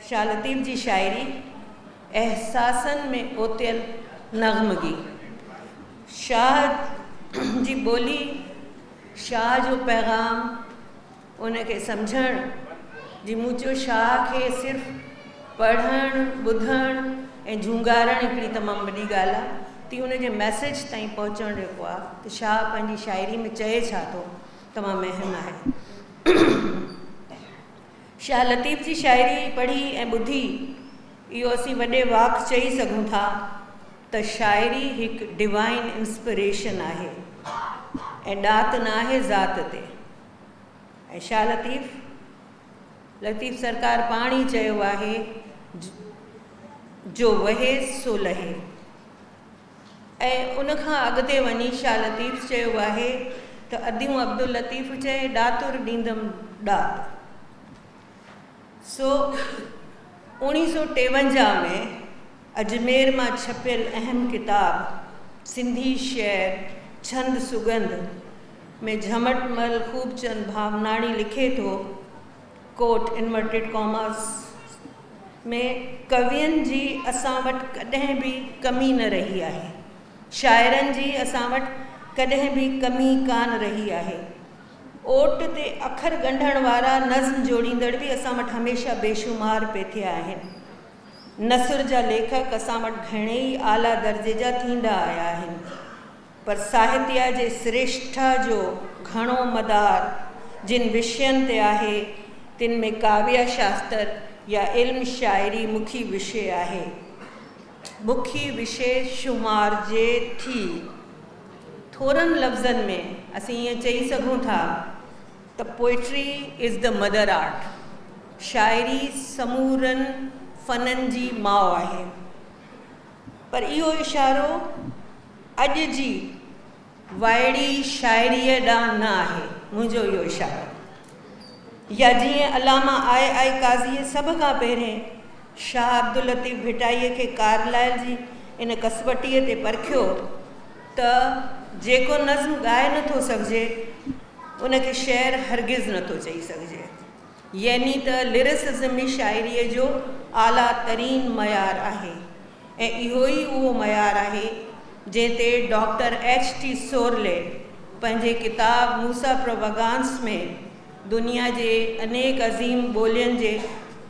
شاھ لطيف جي شاعري احساسن ۾ اوتيل نغمگي، شاھ جي ٻولي، شاھ جو پيغام، ان کي سمجهڻ جي موچو شاھ کي صرف پڙهڻ، ٻڌڻ ۽ جهونگارڻ هڪڙي تمام وڏي ڳالهه آ تي ان جي ميسيج تائين پهچڻ جيڪو آ ته شاھ پنهنجي شاعري ۾ چئي ڇا ٿو تمام اهم آهي. شاهه لطيف جي شاعري پڙهي ۽ ٻڌي اهو اسين وڏي واڪ چئي سگهون ٿا ته شاعري هڪ ڊوائين انسپريشن آهي ۽ ڏات ناهي ذات تي ۽ شاهه لطيف لطيف سرڪار پاڻ ئي چيو آهي جو وهي سو لهي. ۽ ان کان اڳتي وڃي شاهه لطيف چيو آهي ته اديون عبداللطيف چئي ڏاتر ڏيندم ڏات. سو اوڻي سو ٽيونجاهه ۾ اجمير مان ڇپيل اهم ڪتاب سنڌي شعر ڇند سڳنڌ ۾ جهمٽ مل خوبچند ڀاوناڻي لکي ٿو ڪوٽ انورٽيڊ ڪاماس ۾ ڪوين جي اسان وٽ ڪڏهن به ڪمي نه رهي آهي، شاعرن جي اسان وٽ ڪڏهن به ڪمي ڪانه رهي آهي. اوٽ تي اکر ڳنڍڻ وارا نظم جوڙيندڙ به اسان وٽ هميشه بيشمار پئي ٿيا آهن. نثر جا ليکڪ اسان وٽ گهڻيئي اعليٰ درجي جا ٿيندا آيا آهن. پر ساهتيه جي سريشٺا جو گهڻو مدار جن وشين تي آهي، تن ۾ ڪاويه شاستر يا علم شاعري مکي وشي آهي. مکي وشي شمارجي ٿي. ٿورن لفظن ۾ اسين ائين چئي سگهون ٿا ته Poetry is the mother art، شاعري سمورن فنن جي ماء آهي. پر اهو اشارو اڄ جي وائڙي شاعريء ڏانهن نه آهي منهنجو اهو اشارو. يا جيئن علامه آء آء قاضيء سڀ کان پهرين شاهه عبداللطيف ڀٽائيء کي ڪارلائل جي ان ڪسوٽيء تي پرکيو ته جيڪو نظم ڳائي نٿو سگهجي، ان کي شعر هرگز نٿو چئي سگهجي. يعني ته لرسزم ئي شاعريء جو اعليٰ ترين معيار آهي ۽ اهو ئي اهو معيار آهي جنهن تي ڊاڪٽر ايڇ ٽي سورلي پنهنجي ڪتاب موسيٰ پرووگانس ۾ دنيا جي انيڪ عظيم ٻولين جي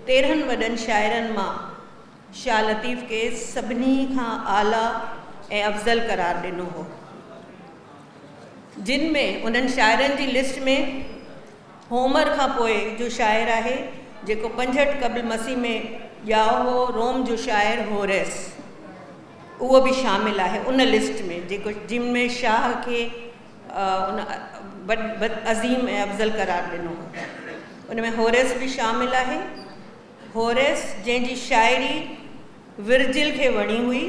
تيرهن وڏن شاعرن مان شاهه لطيف کي سڀني کان اعليٰ ۽ افضل قرار ڏنو هو جن ۾ انهن شاعرن جي لسٽ ۾ هومر کان پوء جو شاعر آهي، جيڪو پنجهٺ قبل مسيح ۾ ڄائو هو، روم جو شاعر هوريس اهو به شامل آهي ان لسٽ ۾ جيڪو جن ۾ شاهه کي ان وڏ عظيم ۽ افضل قرار ڏنو هو ان ۾ هوريس به شامل آهي هوريس جنهن جي شاعري ورجل کي وڻي هئي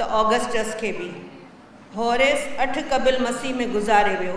ته آگسٽس کي به هوريس اٺ قبل مسيح ۾ گذاري ويو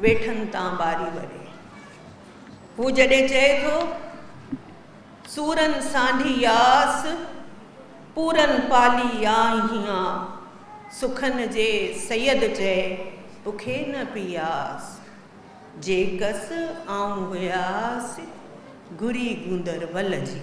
ويٺن تان ٻاري وري. هو جڏهن چئي ٿو، سورن سانڍي ياس، پورن پالي يا هيان، سخن جي سيد چئي بکي نه پياس، جي ڪس آئون هياس، گهري گوندر ول جي.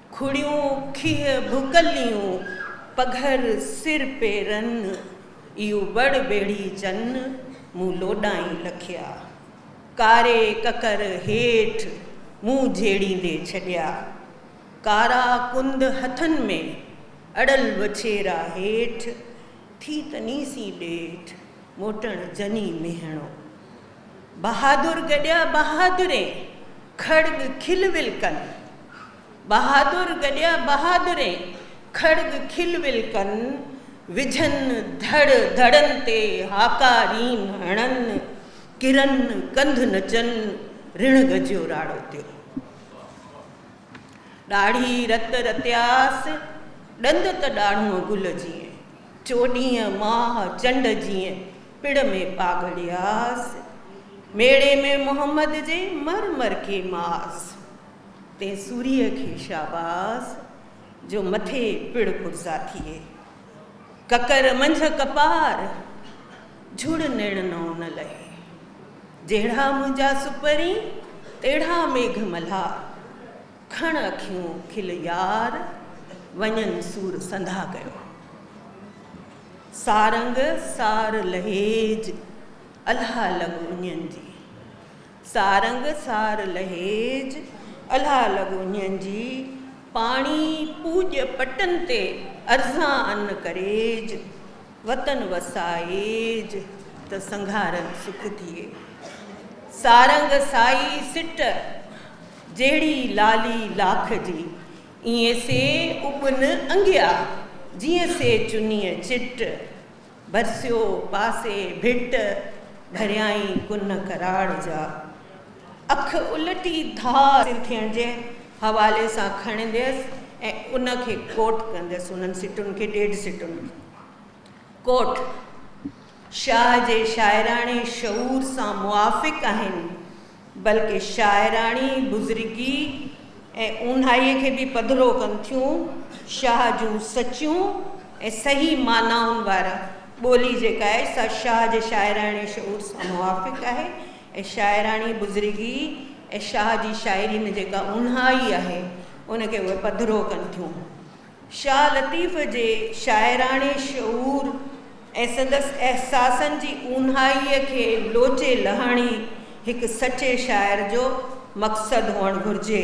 کڙيون کيهه ڀڪليون پگهر سر پيرن، ايو بڙ ٻيڙي جن مون لوڏائين لکيا. ڪاري ڪڪر هيٺ مون جهيڙيندي ڇڏيا. ڪارا ڪند هٿن ۾ اڙل وڇيرا هيٺ، ٿي تنيسي ڏيٺ موٽڻ جني ميهڻو. بهادر گڏيا بهادرين، کڙڳ کل ول ڪن. بهادر گڏيا بهادرين، کڙڳ کل ول ڪن. وجهن ڌڙ ڌڙن تي هاڪا رين هڻن. ڪرن ڪنڌ نچن رڻ گجيو راڙو تيو. ڏاڙهي رت رتياس، ڏند ته ڏاڙهون گل جيئن. چوڏهين ماهه چنڊ جيئن. پڙ ۾ پاڳڙياس، ميڙي ۾ محمد جي مر مر ڪي ماس، تي سوريء کي شاباس، جو مٿي پڙ پرزا ٿئي. ڪڪر منجهه ڪپار، جھڙ نيڻ نئون نه لهي. جهڙا منهنجا سپرين، تهڙا ميگهه ملهار. کڻ اکيون کل يار، وڃن سور سنڌا ڪيو. سارنگ سار لهيج الها لڳ اڃن جي. سارنگ سار لهيج الها لڳ اڃن جي. پاڻي پوڄ پٽن تي ارزان ان ڪريج. وطن وسائيج ته سنگهارن سک ٿئي. سارنگ سائي سٽ جهڙي لالي لاک جي. ايئن سي اپن انگيا، جيئن سي چنيء چٽ. ڀرسيو پاسي ڀٽ، ڀريائين ڪن ڪراڙ جا. اک الٽي ڌار سر ٿيڻ جي حوالي سان کڻنديس ۽ ان کي ڪوٽ ڪنديس، انهن سٽن کي ڏيڍ سٽن ۾. ڪوٽ، شاهه جي شاعراڻي شعور سان موافق آهن. بلڪه شاعراڻي بزرگيء ۽ اونهائيء کي به پڌرو ڪن ٿيون. شاهه جون سچيون ۽ صحيح معنائن وارا ٻولي جيڪا آهي، سا شاهه جي شاعراڻي شعور سان موافق آهي ۽ شاعراڻي بزرگيء ۽ شاهه جي شاعريء ۾ جيڪا اونهائي آهي، ان کي اهي پڌرو ڪن ٿيون. شاهه لطيف جي شاعراڻي شعور ۽ سندس احساسن جي اونهائيء کي لوچي لهڻ ئي هڪ سچي شاعر جو مقصد هئڻ گهرجي.